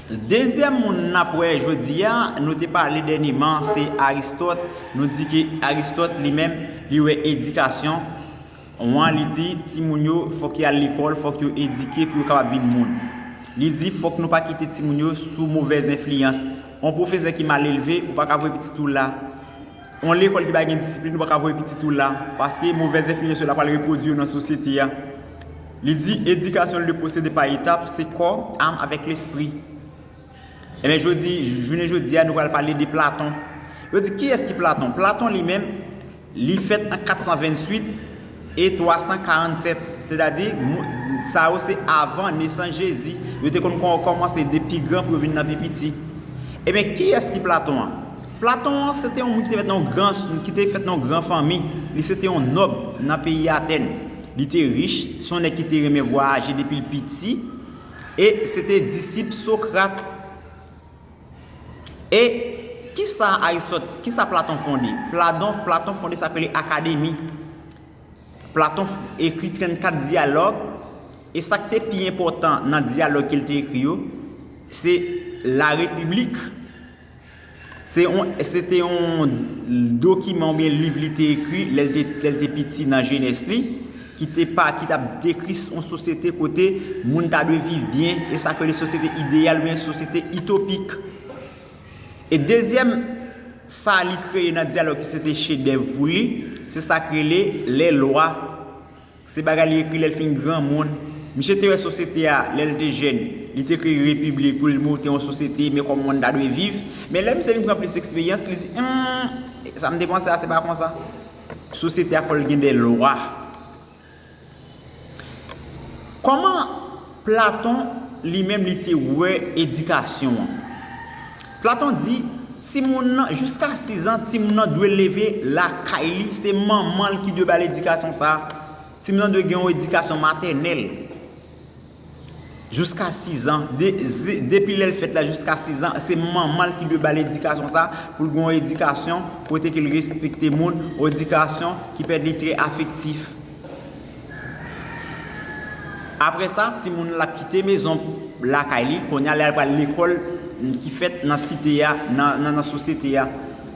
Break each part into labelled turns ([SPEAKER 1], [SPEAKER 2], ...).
[SPEAKER 1] Dezyèm moun n ap wè jodi a, nou te pale dènyeman, se Aristòt. Nou di ke Aristòt li menm, li wè edikasyon, wan li di timoun yo fòk y al lekòl, fòk yo edike pou yo kapab vin moun. Li di fòk nou pa kite timoun yo sou movèz enfliyans. On pwofesè ki malelve, ou pa ka voye pitit ou la. Yon lekòl ki pa gen disiplin ou pa ka voye pitit ou la paske movèz enfliyans yo la pral repwodui yo nan sosyete a. Li di edikasyon l de pwosede pa etap se kò, am avèk lespri. Enben jodi, jounen jodi a nou pral pale de Platon. Yo di kiyès ki Platon? Platon li menm li fèt an 428. E 347, sètadi, sa yo se avan nesans Jezi, yo te konn kòmanse de pi gran pou yo vin nan pi piti. Ebyen, kiyès ki Platon an? Platon an, se te yon moun ki te fèt nan yon gran, ki te fèt nan yon gran fanmi. Li se te yon nòb nan peyi Atèn. Li te rich, se yon nèg ki te renmen vwayaje depi l piti, e se te disip Socrate. E ki sa Aristòt, ki sa Platon fonde? Pladon, Platon fonde sa k rele Akademi. Platon f, ekri 34 dyalòg, e sa k te pi enpòtan nan dyalòg ke l te ekri yo, se La République. Se yon, se te yon dokiman oubyen liv li te ekri lè l te, lè l te piti nan jenès li. ki te pa, ki t ap dekri yon sosyete kote moun ta dwe viv byen, e sa k rele sosyete ideyal oubyen sosyete itopik. E dezyèm sa li kreye nan dyalòg ki se te chedèv pou li, se sa k rele Les Lois, se bagay li ekri lè l fin granmoun. Misye te wè sosyete a lè l te jèn, li te ekri République pou l monte yon sosyete, men kòman moun ta dwe viv. Men lè misye vin pran plis eksperyans, li di, Humm, sa m te panse a se pa konsa. Sosyete a fòl gen de lwa. Kòman Platon li menm li te wè edikasyon an? Platon di timoun nan jiska 6 an timoun nan dwe leve lakay li se manman l ki dwe ba l edikasyon sa. Timoun nan dwe gen yon edikasyon matènèl. Jiska sizan, depi lè l fèt la jiska sizan, se manman l ki dwe ba l edikasyon sa, pou l gen yon edikasyon kote ke l respekte moun, yon edikasyon ki pèmèt li trè afektif. Aprè sa, timoun la kite mezon lakay li, kounye a lè l pral lekòl ki fèt nan site a, nan sosyete a,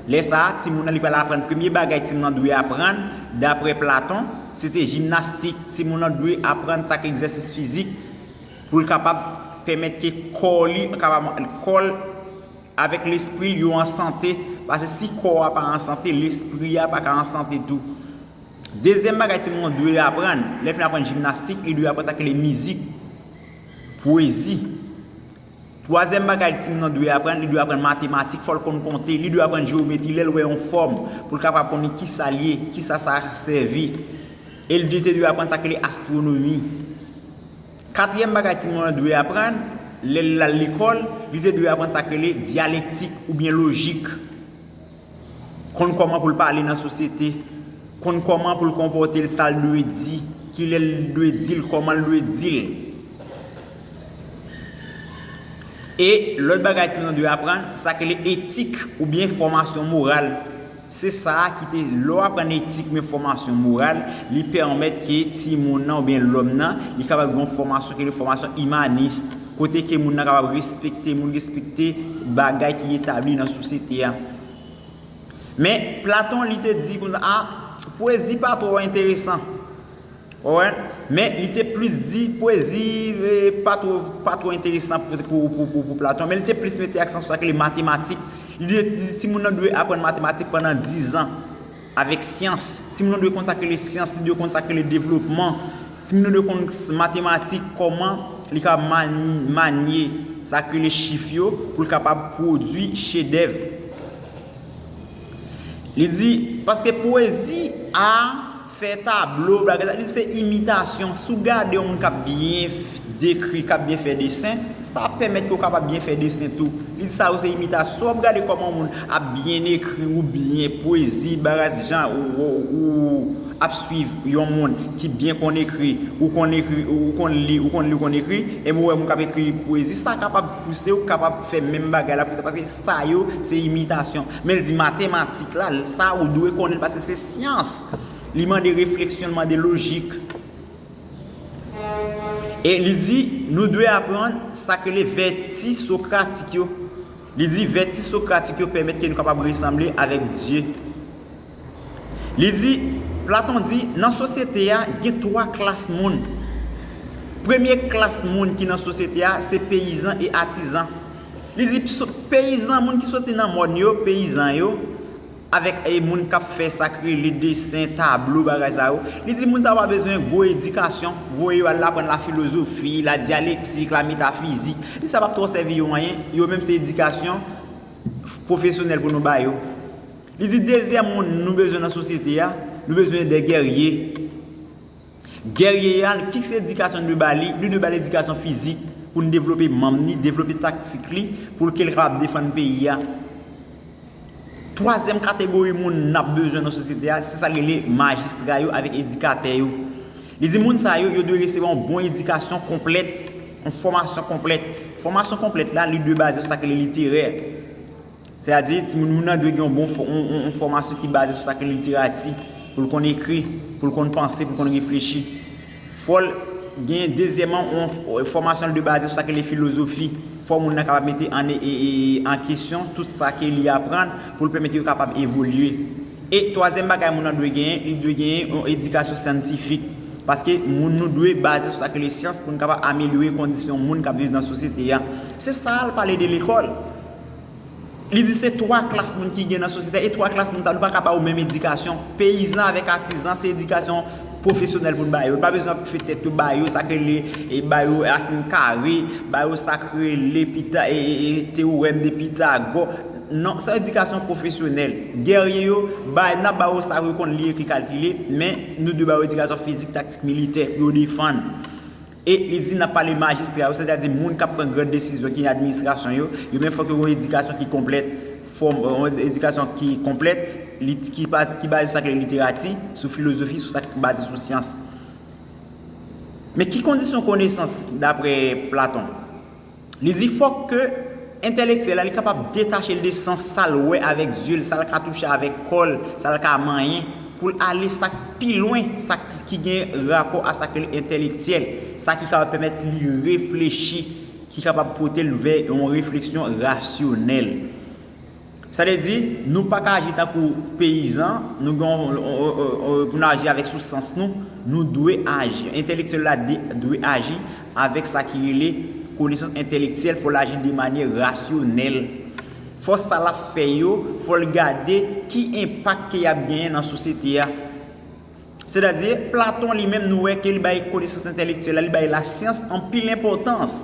[SPEAKER 1] Lè sa a, timoun nan li pral aprann premye bagay timoun nan dwe aprann, dapre Platon, se te jimnastik. Timoun nan dwe aprann sa k egzèsis fizik pou l kapab pèmèt ke kò li kapab, kò l avèk lespri l yo an sante, pase si kò a pa an sante, lespri a pa ka an sante tou. Dezyèm bagay timoun an dwe aprann, lè l fin aprann jimnastik, li dwe aprann sa ki rele mizik, pwezi. Twazyèm bagay timoun nan dwe aprann, li dwe aprann matematik, fò l konn konte, li dwe aprann jewometri lè l wè yon fòm, pou l kapab konnen ki sa l ye, ki sa sa sèvi. E l byen te dwe aprann sa k rele astwonomi. Katriyèm bagay timoun nan dwe aprann, lè l al lekòl, li te dwe aprann sa k rele dyalektik oubyen lojik. konn kòman pou l pale nan sosyete, konn kòman pou l konpòte l, sa l dwe di, ki lè l dwe di l, kòman l dwe di l. E lòt bagay timoun yo dwe aprann, sa k rele etik oubyen fòmasyon moral. Se sa a ki te, lè w aprann etik oubyen fòmasyon moral, li pèmèt ke timoun nan oubyen lòm nan, li kapab gen yon fòmasyon ki rele fòmasyon imanis. Kote ke moun nan kapab respekte moun, respekte bagay ki etabli nan sosyete a. Men, Platon li te di kon sa, pwezi pa twò enteresan. Ou wè? Men, li te plis di pwezi pa twò, pa twò enteresan pou Platon. Men li te plis mete aksan sou sa ki rele matematik. Li di ti moun nan dwe aprann matematik pandan dizan. Avèk syans. Timoun yo dwe konn sa k rele syans, li dwe konn sa k rele devlopman. Timoun yo dwe konn matematik, kòman li kapab manye sa k rele chif yo pou l kapab pwodui chedèv. Li di, paske pwezi, a, fè tablo, bagay sa, li di se imitasyon. Si w gade yon moun k ap byen dekri, k ap byen fè desen, Sa ap pèmèt ke ou kapab byen fè desen tou. Li di sa yo se imitas. Si w ap gade kòman yon moun ap byen ekri ou byen pwezi, bagay jan ou ap swiv yon moun ki byen konn ekri, ou konn ekri, ou konn li, ou konn li, ou konn ekri, enben ou wè moun k ap ekri pwezi, sa kapab pouse ou kapab fè menm bagay la pou sa. Paske sa yo se imitasyon. Men l di matematik la, sa ou dwe konnen l paske se syans. Li mande refleksyon, li mande lojik. E li di, nou dwe aprann sa k rele vèti sokratik yo. Li di, vèti sokratik yo pèmèt ke nou kapab resanble avèk Dye. Li di, Platon di, nan sosyete a, gen 3 klas moun. Premye klas moun ki nan sosyete a, se peyizan e atizan. Li di, peyizan, moun ki soti nan mòn yo, peyizan yo, avèk e moun kap fè sak rele desen, tablo bagay sa yo, li di moun sa yo pa bezwen gwo edikasyon, voye yo al aprann la filozofi, la dyalektik, la metafizik, li sa pap twò sèvi yo anyen, yo menm se edikasyon pwofesyonèl pou nou ba yo. Li di dezyèm moun nou bezwen nan sosyete a, nou bezwen de gèrye. Guerrier a, ki se edikasyon nou dwe ba li? Nou dwe ba li edikasyon fizik pou nou devlope manm li, devlope taktik li pou ke li kapab defann peyi a. Twazyèm kategori moun n ap bezwen nan sosyete a, se sa l rele majistra yo avèk edikatè yo. Li di moun sa yo, yo dwe resevwa yon bon edikasyon konplèt, yon fòmasyon konplèt. Fòmasyon konplèt la, li dwe baze sou sa ki rele literè. Se a di, timoun moun nan dwe gen yon bon yon fòmasyon ki baze sou sa ki literati, pou l konn ekri, pou l konn panse, pou l konn reflechi. Fò l gen dezyèman yon fòmasyon l dwe baze sou sa ki rele filozofi. Fò moun nan kapab mete an kesyon tout sa ke li aprann pou l pèmèt yo kapab evolye. E twazyèm bagay moun nan dwe genyen, li dwe genyen yon edikasyon syantifik. Paske moun nou dwe baze sou sa ki rele syans pou n kapab amelyore kondisyon moun k ap viv nan sosyete a. Se sa l pale de lekòl. Li di se 3 klas moun ki gen nan sosyete a e 3 klas moun sa yo nou pa ka ba yo menm edikasyon. Peyizan avèk atizan se edikasyon pwofesyonèl pou n ba yo. Nou pa bezwen ap tchwe tèt yo ba yo sa k rele e ba yo rasin kare, ba yo sa k rele pita e e teworèm de Pitagò. Non, se yon edikasyon pwofesyonèl. Gèrye yo, ba n ap ba yo sa yo konn li, ekri, kalkile men nou dwe ba yo edikasyon fizik, taktik, militè pou yo defann. E li di nan pale majistra yo, sètadi moun k ap pran gran desizyon ki nan administrasyon yo, yo menm fòk yo gen yon edikasyon ki konplèt, yon edikasyon ki konplèt, ki baze sou sa k rele literati, sou filozofi, sou sa k baze sou syans. Men ki kondisyon konesans dapre Platon? Li di fòk ke entèlektyèl la li kapab detache l de sans sa l wè avèk zye l, sa l ka touche avèk kò l, sa l ka manyen, pou l ale sa k pi lwen, sa ki gen rapò a sa k rele entèlektyèl, sa ki kapab pèmèt li reflechi, ki kapab pote l vè yon refleksyon rasyonèl. Sa vle di, nou pa ka aji tankou peyizan, nou gen yon, pou nou aji avèk sou sans nou, nou dwe aji, entèlektyèl la dwe aji avèk sa ki rele konesans entèlektyèl, fò l aji de manyè rasyonèl. Fò sa l ap fè yo, fò l gade ki enpak ke y ap genyen nan sosyete a. Sètadi, Platon li menm nou wè ke li bay konesans entèlektyèl la, li bay lasyans anpil enpòtans.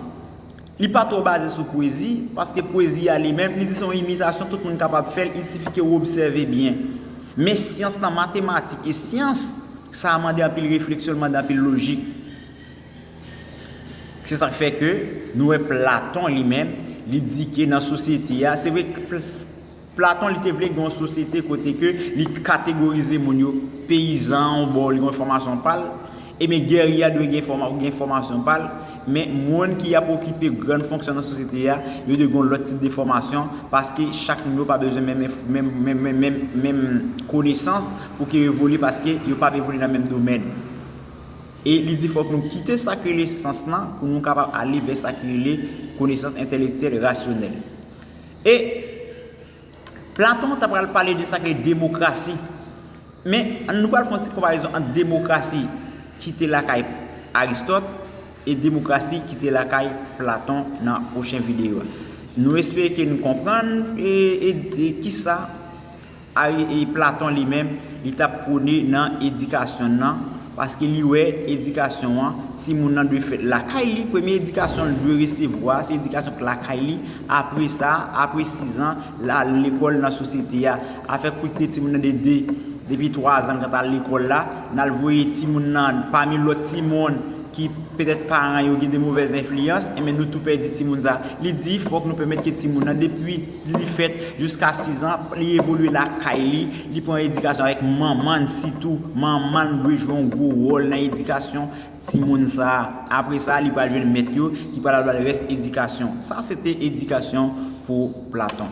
[SPEAKER 1] Li pa twò baze sou pwezi, paske pwezi a li menm, li di se yon imitasyon tout moun kapab fè l, il sifi ke ou obsève byen. Men syans lan, matematik e syans, sa mande anpil refleksyon, li mande anpil lojik. Se sa k fè ke nou wè Platon li menm, li di ke nan sosyete a, se vre, Platon li te vle gen yon sosyete kote ke li kategorize moun yo, peyizan an yon bò li gen yon fòmasyon pa l, e men gèrye a dwe gen fòmasyon pa l, men moun ki ap okipe grann fonksyon nan sosyete a, yo dwe gen yon lòt tip de fòmasyon paske chak moun yo pa bezwen menm konesans pou ke yo evolye paske yo pa ap evolye nan menm domèn. E li di fòk nou kite sa ki rele sans lan pou nou kapab ale vè sa ki rele konesans entèlektyèl, rasyonèl. E Platon ta pral pale de sa ki rele demokrasi. Men, nou pral fè yon ti konparezon ant demokrasi ki te lakay Aristòt e demokrasi ki te lakay Platon nan pwochen videyo a. Nou espere ke nou konprann e ki sa Ari Platon li menm, li t ap pwone nan edikasyon n nan, paske li wè edikasyon an, timoun nan dwe fèt lakay li, premye edikasyon l dwe resevwa a, se edikasyon k lakay li, apre sa, apre sizan, l al lekòl nan sosyete a. Afè kout pye timoun nan de de, depi twazan l kanta al lekòl la, n al voye timoun nan pami lòt timoun ki petèt paran yo gen de movèz enfliyans, enben nou tou pèdi timoun sa a. Li di fòk nou pèmèt ke timoun nan depi. Li li fèt jiska 6 an, li evolye lakay li, li pran edikasyon avèk manman n sitou, manman n dwe jwe yon gwo wòl nan edikasyon timoun sa a. Apre sa, li pral jwenn mèt yo ki pral al ba l rès edikasyon. Sa se te edikasyon pou Platon.